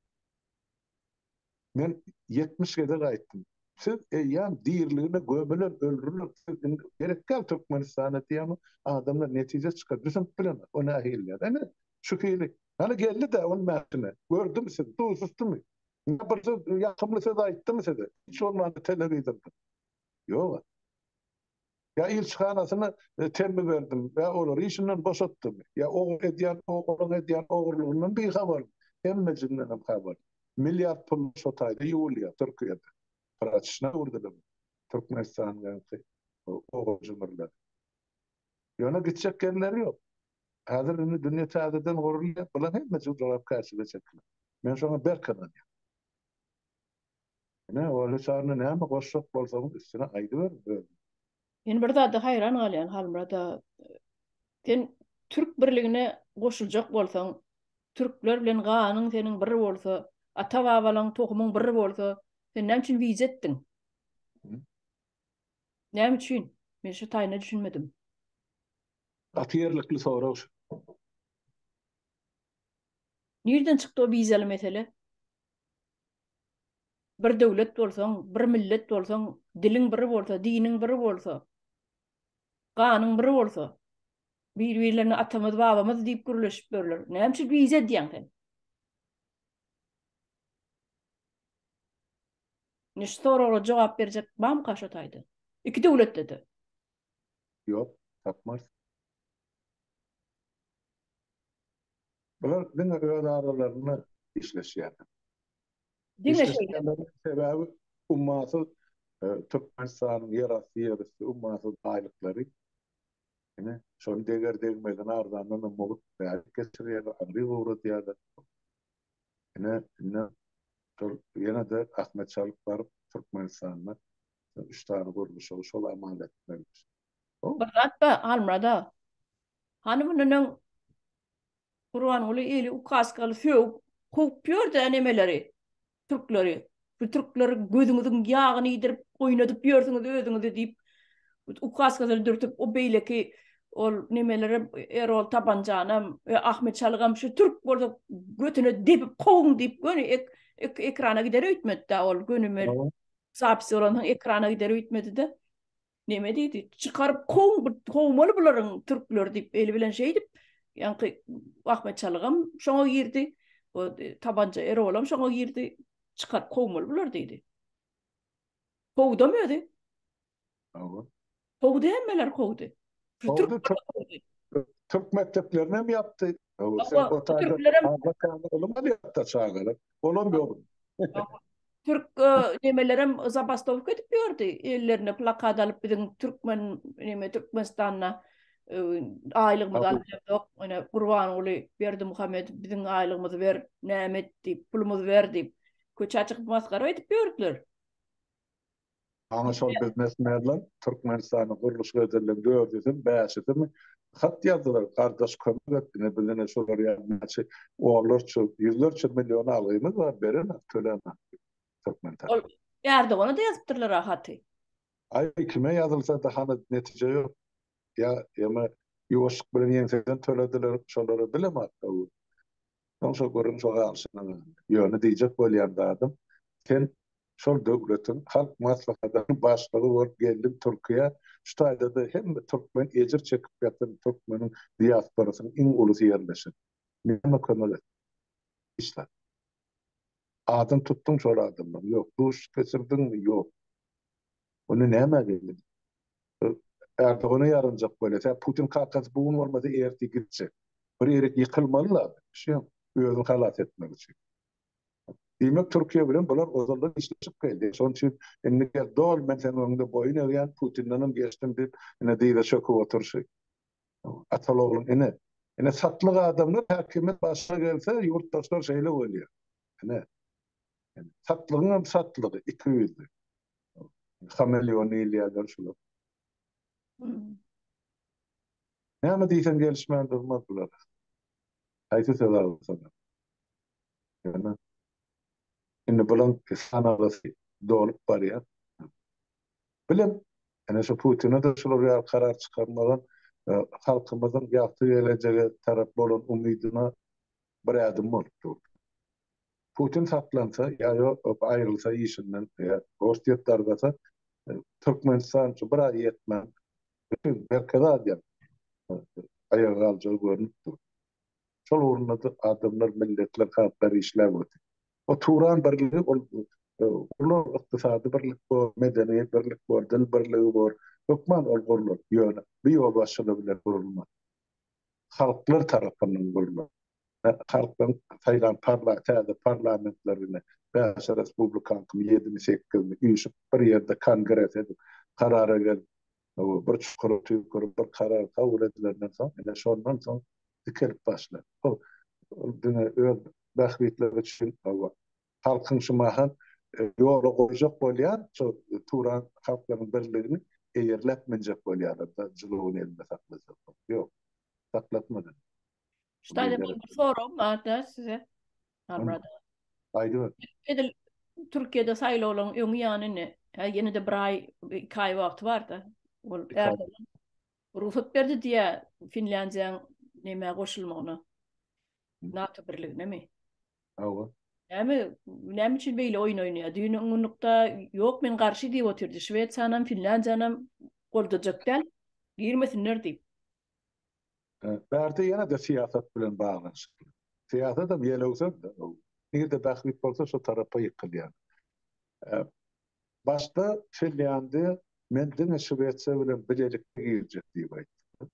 Men ýetmiş gezek aýtdym. Siz eýýäm diriligine gömüler, öldüriler. Siz indi gerek däl Türkmenistana diýämi, adamlar netije çykar. Düşünip bilemok. O nähiliýär? Ene, şu hili. Hany geldi-dä ol mähkime. Gördümi siz? Duşuşdymy? Indi bir söz, ýakymly söz aýtdymy size? Hiç bolmanda telewizordan. Ýog-a. Ýa ilçihanasyny temmi berdim, ýa olary işinden boşatdym, ýa o edýän, o olaň edýän ogurlygyndan bihabarym. Hemmejiginden habarly. Milliard pul şo taýda ýuwulýar Türkiýede. Praçyşna öwrüdiler Türkmenistanyň ýaňky ogurjymyrlary. Ýöne gitjek ýerleri ýok. Häzir indi dünýe täzeden gurulýar, bularyň hemmesi jogapkärçilige çekiler. Men şoňa berk ynanýan. Ine, Olli Çarna näme goşjak bolsaňyz üstüne aýdyberiň özüňiz. Men bir zada haýran galýan Halmyrat aga. Sen Türk birligine goşuljak bolsaň, Türkler bilen ganyň seniň bir bolsa, ata-babalaň tohumyň bir bolsa, sen näme üçin wiz etdiň? Näme üçin? Men şu taýyna düşünmedim. Gaty ýerlikli sorag şu. Nirden çykdy o wizaly mesele? Bir döwlet bolsaň, bir millet bolsaň, diliň bir bolsa, diniň bir bolsa, ganyň bir bolsa, bir-birlerine atamyz, babamyz diýip gürleşip ýörler. Näme üçin wiza edýäň sen? Indi şu soraglara jogap berjek bamyka şu taýda? Iki döwletde-de. Ýok, tapmarys. Bular diňe öz aralarynda işleşýärler. Diňe şeýle. Sebäbi ummasyz Türkmenistanyň ýerasty ýerüsti ummasyz baýlyklary ine şony deger degmezine arzandan umma geçirýärler, agry gowradýarlar. Ine, indi şol ýene-de Ahmet Çalyk baryp, Türkmenistanda üç sany gurluşygy şol amal etmelidir. Bir zat bar, Halmyrat aga. Hany bu neneň Gurbanguly ili ukaskaly sögüp, kowup ýör-dä nemeleri, türkleri. Bu türkler gözüňiziň ýagyny iýdirip, oýnadyp ýörsüňiz özüňizi diýip, ukaskasyny dürtüp, o beýleki ol nemelerem, Erol Tabanjanam, Ahmet Çalygam şu türk bolsa götüne depip kowuň diýip, göni ekrana gider öýtmedi-de ol, göni zapis bolansoň ekrana gider öýtmedi-de. Neme diýdi? Çykaryp kow, kowmaly bularyň türkler diýip, eli bilen şeýdip, ýaňky Ahmet Çalygam şoňa girdi. O e, tabanca Erolam şoňa girdi. Çykaryp kowmaly bular diýdi. Kowdam özi. Hawa. Kowdy hemmeler kowdy. Kowdy, Türk mekdeplerini hem ýapdy. Hawa, sen o taýda ylym alýapda çagalar. Olam ýok. Türk nemelerem zabastowka edip ýördi. Ellerine plakat alyp biziň türkmen neme Türkmenistanda aýlygymyzy aljakdyk. Ine Gurbanguly Berdimuhamedow biziň aýlygymyzy ber, näme et diýip, pulumyzy ber diýip köçä çykyp masgara edip ýördüler. Ana şol biznesmenler Türkmenistanyň gurluş rezerleriň dördüsimi, bäşisimi hat ýazdylar, Gardaş kömek et, ine bizde ine şular ýaly näçe onlarça, ýüzlerçe million algymyz bar, berenak, tölänak diýip, türkmen tarapy. Ol Ärdogana-da ýazypdyrlar-a haty. Aý, kime ýazylsa-da hany netije ýok. Ýa ýa-ma ýuwaşlyk bilen ýeňseden tölediler şolara bilemok-a bu. Onsa görüň şo galşyňyzy. Ýöne diýjek bolýan zadym, sen şol döwletiň Halk Maslahatynyň başlygy bolup geldiň Türkiýä, şu taýda-da hemme türkmen ejir çekip ýatan türkmeniň diasporasynyň iň ulusy ýerleşen. Näme kömek etdiň? Hiç zat. Adyny tutduň şol adamlaryň? Ýok. Duşuşyk geçirdiňmi? Ýok. Onda näme geldi? Erdogana ýaranjak bolýar. Tä Putin kakasy bu gün bolmasa ertir gitjek. Bir ýerik ýykylmaly la. Şem özüni halas etmek üçin. Diýmek Türkiýe bilen bular ozaldan işleşip geldi. Şonuň üçin indi gel dol men seniň öňüňde boýun egýän Putindenem geçdim diýip ine dyza çöküp oturşy. Atal ogluň ine. Ine satlyk adamlar häkimiýet başyna gelse ýurtdaşlar şeýle bolýar. Ine. Satlygyň hem satlygy, iki ýüzli. Hameleon diýilýänler şular. Näme diýseň gelişmän durmaz bular. Haýsy söz agzasana. Ýöne indi bulaň sanalasy dolup barýar. Bilim, ene şu Putine-de şular ýaly karar çykarmaga e, halkymyzyň ýagty gelejege tarap bolan umydyna bir ädim bolup dur. Putin saklansa ýa ýok aýrylsa işinden ýa Orsýet dargasa Türkmenistan şu bir aý ýetmän bütin Merkezi Aziýa aýaga galjagy görnüp dur. Şol ugrunda adamlar milletler halklar işläp otyr. O Turan birligi ol uly ykdysady birlik bor, medeni birlik bor, dil birligi bor. Hökman ol gurlar. Ýöne bu ýolbaşçylyk bilen gurulmaz. halklar tarapyndan bolmaly. Halkdan saýlan parla, täze parlamentlerine bäş respublikan kimi ýedimi, sekizini üýşüp bir ýerde kongres edip, karara gelip, bir çukura tüýkürip bir karar kabul edilenden soň, ine şondan soň dikelip başlar. Ol diňe öz bähbitleri üçin halkyň şu mahal ýola goýjak bolýan şu Turan halklaryň birligini eýerläp münjek bolýarlar da jylawyny elinde saklajak bolup. Ýok. Saklatmady. Ştaýda bir soragym barda size. Halmyrat aga. Aýdyber. Edil Türkiýede saýlawlaryň öňi ýany indi. Häzir ýene-de bir aý, iki aý wagty barda. Ol Erdogan rugsat berdi diýýär Finlýandiýanyň nämä goşulmagyna. NATO birliginemi? Hawa. Näme, näme üçin beýle oýun oýnaýar? Düýn ýygnakda ýok men garşy diýip otyrdy. Şwesiýanam, Finlandiýanam goldajak däl. Girmesinler diýip. Bärde ýene-de syýasat bilen baglanyşykly. Syýasatam ýelewsem-de, nirede bähbit bolsa şo tarapa ýykylýar. Başda Finlandiýa men diňe Şwesiýa bilen bilelikde girjek diýip aýtdy.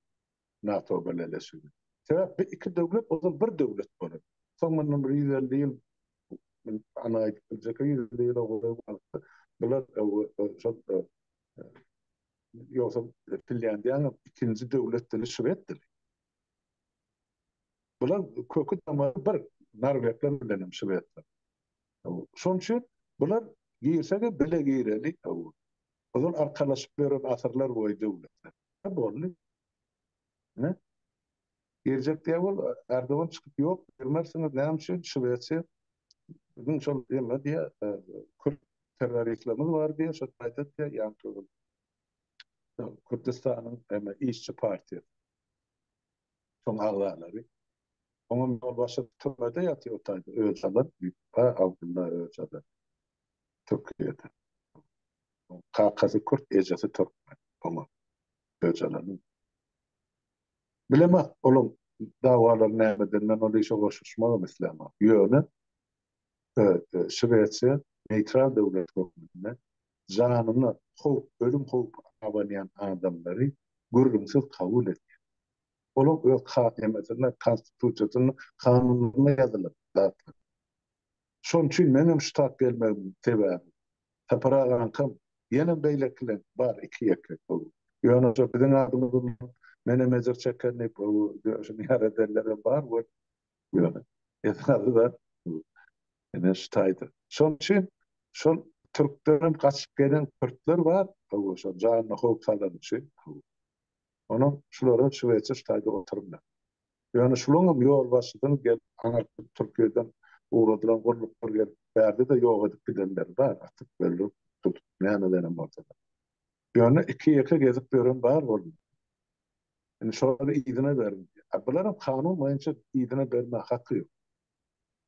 NATO birleşigi. Sebäp bu iki döwlet ozal bir döwlet bolar. Soň mundan ýüz elli ýyl ana aýdyp biljek ýüz elli ýyla golaý wagtda bular şol ýogsa Finlýandiýanyň ikinji döwlet dili şwed dili. Bular köki tamary bir norwegler bilenem şwedler. Şonuň üçin bular girse-de bile gireni ozal arkalaşyp ýören asyrlar boýy döwletler. Hä boldy. Hä? Girjek diýä bol Erdogan çykyp ýok girmersiňiz näme üçin Şwesiýa biziň şol ýylda diýä kürt terroristlerimiz bar diýä şo taýda diýä ýaňky ýyl Kürdistanyň eme işçi partiýasy. Şoň agzalary. Oňa mol başy türmede ýatyr otaýdy. Öjalan, Ýüpbe, Abdylla Öjalan. Türkiýede. Kakasy kürt, ejesi türkmen. Oňa. Öjalanyň. Bilemok, olaň dawalary nämeden, men ol işe goşuşmagam islämok. Ýöne, Şwesiýa neýtral döwlet hökmünde janyna howp, ölüm howpy abanýan adamlary gürrüňsiz kabul edýär. Olaň öz KM-sinde, Konstitusiýasynda, kanunlarynda ýazylan zatlar. Şonuň üçin meňem şu tap gelmegimiň sebäbi, Sapar agaňkam, ýenem beýlekileň bar iki-ýeke gowy. Ýöne şo biziň adymyzyndan menem ejir çeken diýip, gowy döşüni ýar edenlerem bar, weli Ýöne esasy zat bu. Ine şu taýdan. Şonuň üçin şol türklerden gaçyp gelen kürtler bar, hawa şol janyna howp salany üçin, hawa. Onuň şulara şuweçe şu taýda oturmaz. Ýöne şulaň hem ýolbaşçysyny gelip aňyrtdyp Türkiýeden ugradylan gulluklar gelip bärde-de ýok edip gidenleri bar, atyp, öldürip, tutup, nämelerem bolsa-da. Ýöne iki-ýeke gezip ýören bar boldy. Indi şolary yzyna berin diýýär. A bularam kanun boýunça yzyna bermäge haky ýok.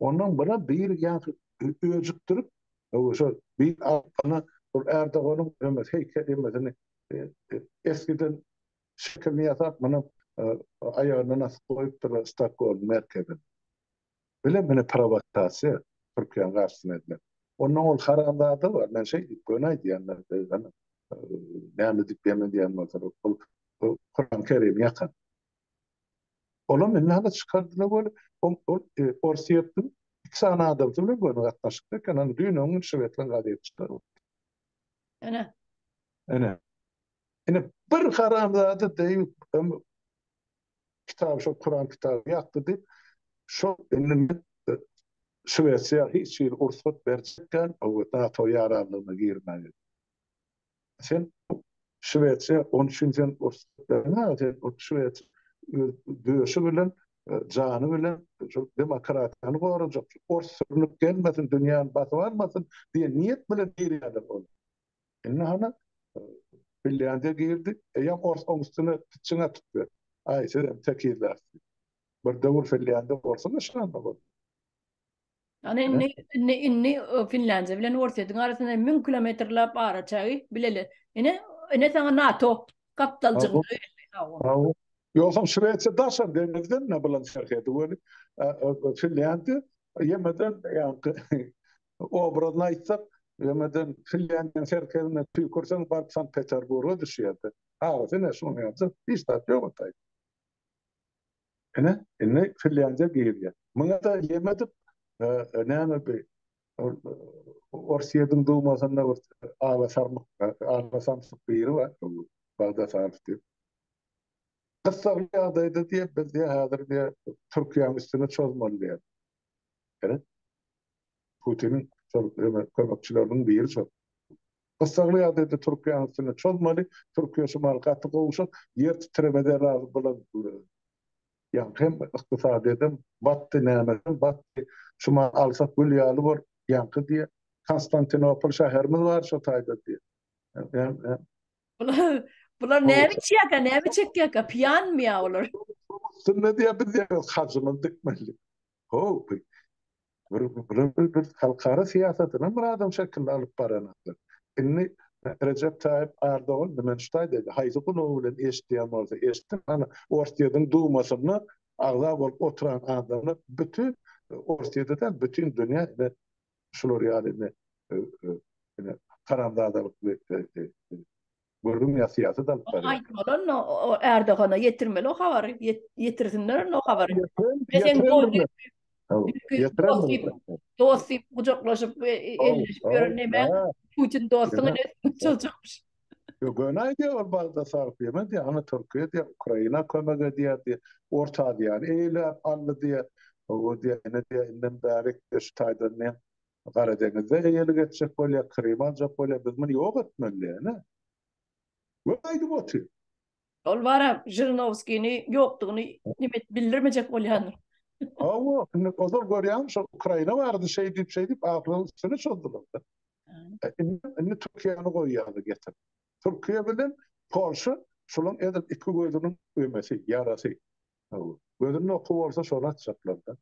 Ondan bular biri ýaňky öjükdirip, öwez şol bir alypbana ol Ärdoganyň ömez heýkel ýemesini eskiden şekilini ýasap, munam aýagyna nasyp goýupdyrlar Stokgolm merkezine. Bile mine prowokasiýa Türkiýäň garşysyna edilen. Ondan ol haramzada bar. Men şeý diýip göni aýdýanlar gyzgyn. Näme diýip ýem edýän bolsa ol Kuran Kerim ýakan. Olam indi hala çykardylar ol ol Orsýetiň iki sany adamsy bilen göni gatnaşykda eken. Ony düýn öň şwedlaň gazeti çykaryp. Ene. Ene. Ene bir haramzada deýip kitaby şol Kuran kitaby ýakdy diýip, şol indi men Şwesiýa hiç hili rugsat berjekgän NATO ýaranlygyna girmäge. Sen Şwesiýa on üçin sen rugsat bermäge sen ol Şwesiýa döşi bilen jany bilen şu demokratiýany gorajak, ors sürnüp gelmesin, dünýäni basyp almasyn diýen niýet bilen girýärler ol. Indi hany Finlandiýa girdi, eýýäm ors oň üstüne pitçiň atyp ber. Aý, sizem tekizler. Bir döwür Finlandiýa orsuň yşganda boldy. Ýöne indi, indi, indi Finlandiýa bilen Orsýetiň arasynda müň kilometrläp ara çagy, bileli. Ine, ine saňa NATO gapdaljygyny öýerdi. Sag bol. Ýogsam Şwesiýa daşary deňizden-ä bilen serhedi weli, Finlandiýa ýemeden ýaňky obrazyny aýtsak, ýöňeden Finlýandiýanyň serhedine tüýkürseň, baryp Sankt-Peterburga düşýärdi. Agysy ine şuny ýazyp, hiç zat ýogaltaýdy. Ine, indi Finlýandiýa girýär. Muňa-da ýem edip, näme bi, Orsýetiň Dumasynda bir ala-sarmyk, ala-samsyk biri bar, Bagdasarov diýip. Gyssagly ýagdaýda diýip, biz diýip, häzir diýip, Türkiýäniň üstüne çozmaly diýip. Ine. Putiniň şol ýöne kömekçileriniň biri çozdy. Gyssagly ýagdaýda Türkiýäň üstüne çozmaly, Türkiýe şu mahaly gaty gowşak, ýer titremede razy bolan ýaňky hem ykdysadyýetem batdy, nämesem batdy, şu mahaly alsak gül ýaly bor, ýaňky diýýär, Konstantinopol şäherimiz bar şo taýda diýýär. Hem, hem. Bular, bular näme içýärkä, näme çekýärkä, piýanmy ýa olar? Üstünde diýýär, biz ýa hajymyzy dikmelidik. Haw, bu bular bir halkara syýasatyny bir adam şekilli alyp baranoklar. Indi Rejep Taýyp Ardogan diňe şu taýda aýtdy, haýsy gulagy bilen eşidýän bolsa eşitsin, hany Orsýetiň Dumasynda agza bolup oturan adamlar bütin Orsýete däl, bütin dünýä indi şular ýaly indi indi haramzadalykly Gördüňmi ýa syýasat alyp barýar. Aýtmaly o Erdogana ýetirmeli o habary ýetirsinler onda o habary. Dost diýip gujaklaşyp elleşip ýören näme Putin dostuňa ne çaljakmyş. Ýok göni aýdýar ol bagda salyp ýemez diýýär ana Türkiýe diýýär Ukraina kömek edýär diýýär Orta Aziýany eýläp aldy diýýär. Owo diýýär ine diýýär indem bärik şu taýdan diýýär Gara deňizde eýelik etjek bolýar, Krymy aljak bolýar, biz muny ýok etmeli diýeni we aýdyp otyr. Ol bara Žirinowskini ýokdugyny nime edip bildirmejek bolýandyr. Hawa, indi ozal görýäňmi şol Ukraina barada şeý diýip, şeý diýip ahyrynyň üstüni çozdular-da. Indi Türkiýäni goý ýaly getir. Türkiýe bilen Polşa şolaň edil iki gözüniň ömesi, ýarasy. Gözünde oky bolsa şony atjaklar-da.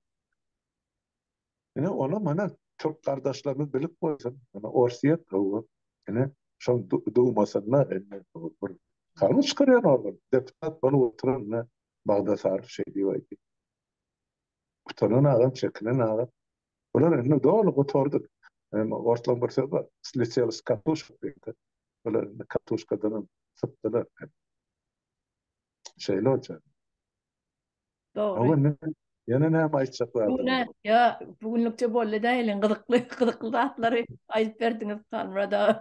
Ine, ony mana türk gardaşlarymyz bilip goýsun. Ine, Orsýet gowy. Ine, şoň Dumasynda indi bir kanun çykarýan organ, deputat bolup oturan, ine, Bagdasary şeý diýip aýdýar. Utanan agam, çekinen agam. Bular indi doly gutardy. Indi orslaň bir söz bar, sletiýeli s katushek diýdi. Bular indi katushkadanam sypdylar. Şeýle bolýar. Dogry. Ýene näme aýtjak bardyň? Ýa, bu günlükçe boldy däliň, gyzykly, gyzykly zatlary aýdyp berdiňiz Halmyrat aga.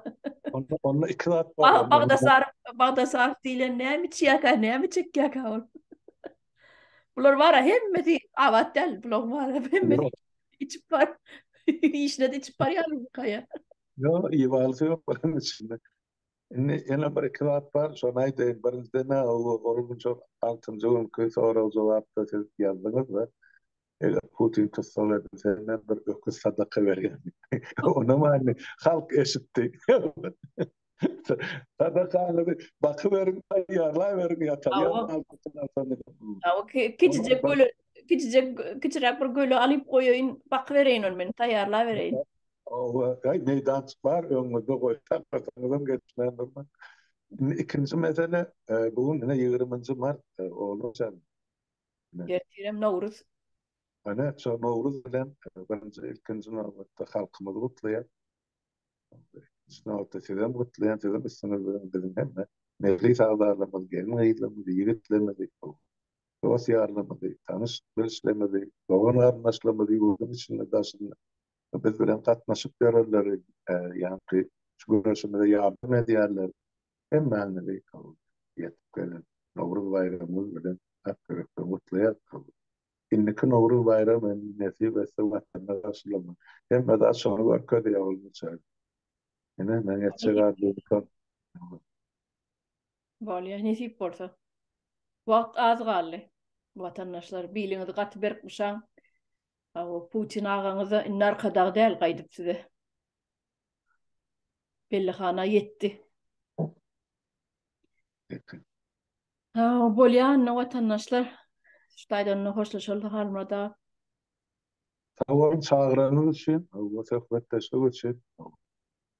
Onda, onda iki zat bar. Bagdasaryk, Bagdasaryk diýlen näme içýärkä, näme içekýärkä ol? Bular bar-a, hemmesi abat däl, bulaň bar, hemmesi içip bar, işine-de içip barýarlar bu kaýa. Ýok, iýip alsy ýok bularyň içinde. Indi ýene bir-iki zat bar, şony aýdaýyn. Birinjiden-ä, ol münje altynjy günki sorag-jogapda siz ýazdyňyz-da, eger Putin tussag edilse, men bir öküz sadaka berýän diýip. Onam indi halk eşitdi. Sadakaňyzy bakyberiň, taýýarlaýberiň ýa-da Kiçijek göle, kiçijek, kiçiräk bir göle alyp goýaýyn, bakybereýin ony men, taýýarlabereýin. Oba, gaý meýdançyk bar, öňüňizde goýsaň, arkaňyzam geçmän durmaz. Indi ikinji mesele, bu gün ine ýigriminji mart, olar sen. Ertirem Nowruz. Ine, şo Nowruz bilen birinji, ilkinji nobatda halkymyzy gutlaýan. Şu nobatda sizem gutlaýan, siziň üstüňizde biziň hemme mejlis agzalarymyz, gelin-gyzlarymyzy, ýigitlerimizi, dost-ýarlarymyzy, tanyş-bilişlerimizi, dogan-garyndaşlarymyzy ýurduň içinde-daşynda biz bilen gatnaşyk ýörenleri, ýa-da şu göreşimize ýardam edýärler. Hemmäňizi ýetip gelen Nowruz baýramyňyz bilen ak ýürekden gutlaýarys. Indiki Nowruz baýramy nesip etse Watanda garşylamak. Hemme zat şony görkezýär bolmasa. Ine, meň etjek arzuwym şol. Bolýa, nesip bolsa. Wagt az galdy. Watandaşlar, biliňizi gaty berk buşaň. Aw, Putin agaňyz-da indi arkadag däl, gaýdyp size. Bellihana ýetdi. Aw, bolýa, onda watandaşlar. Şu taýdan onda hoşlaşalda, Halmurad aga. Sag boluň, çagyranyňyz üçin we söhbetdeşlik üçin.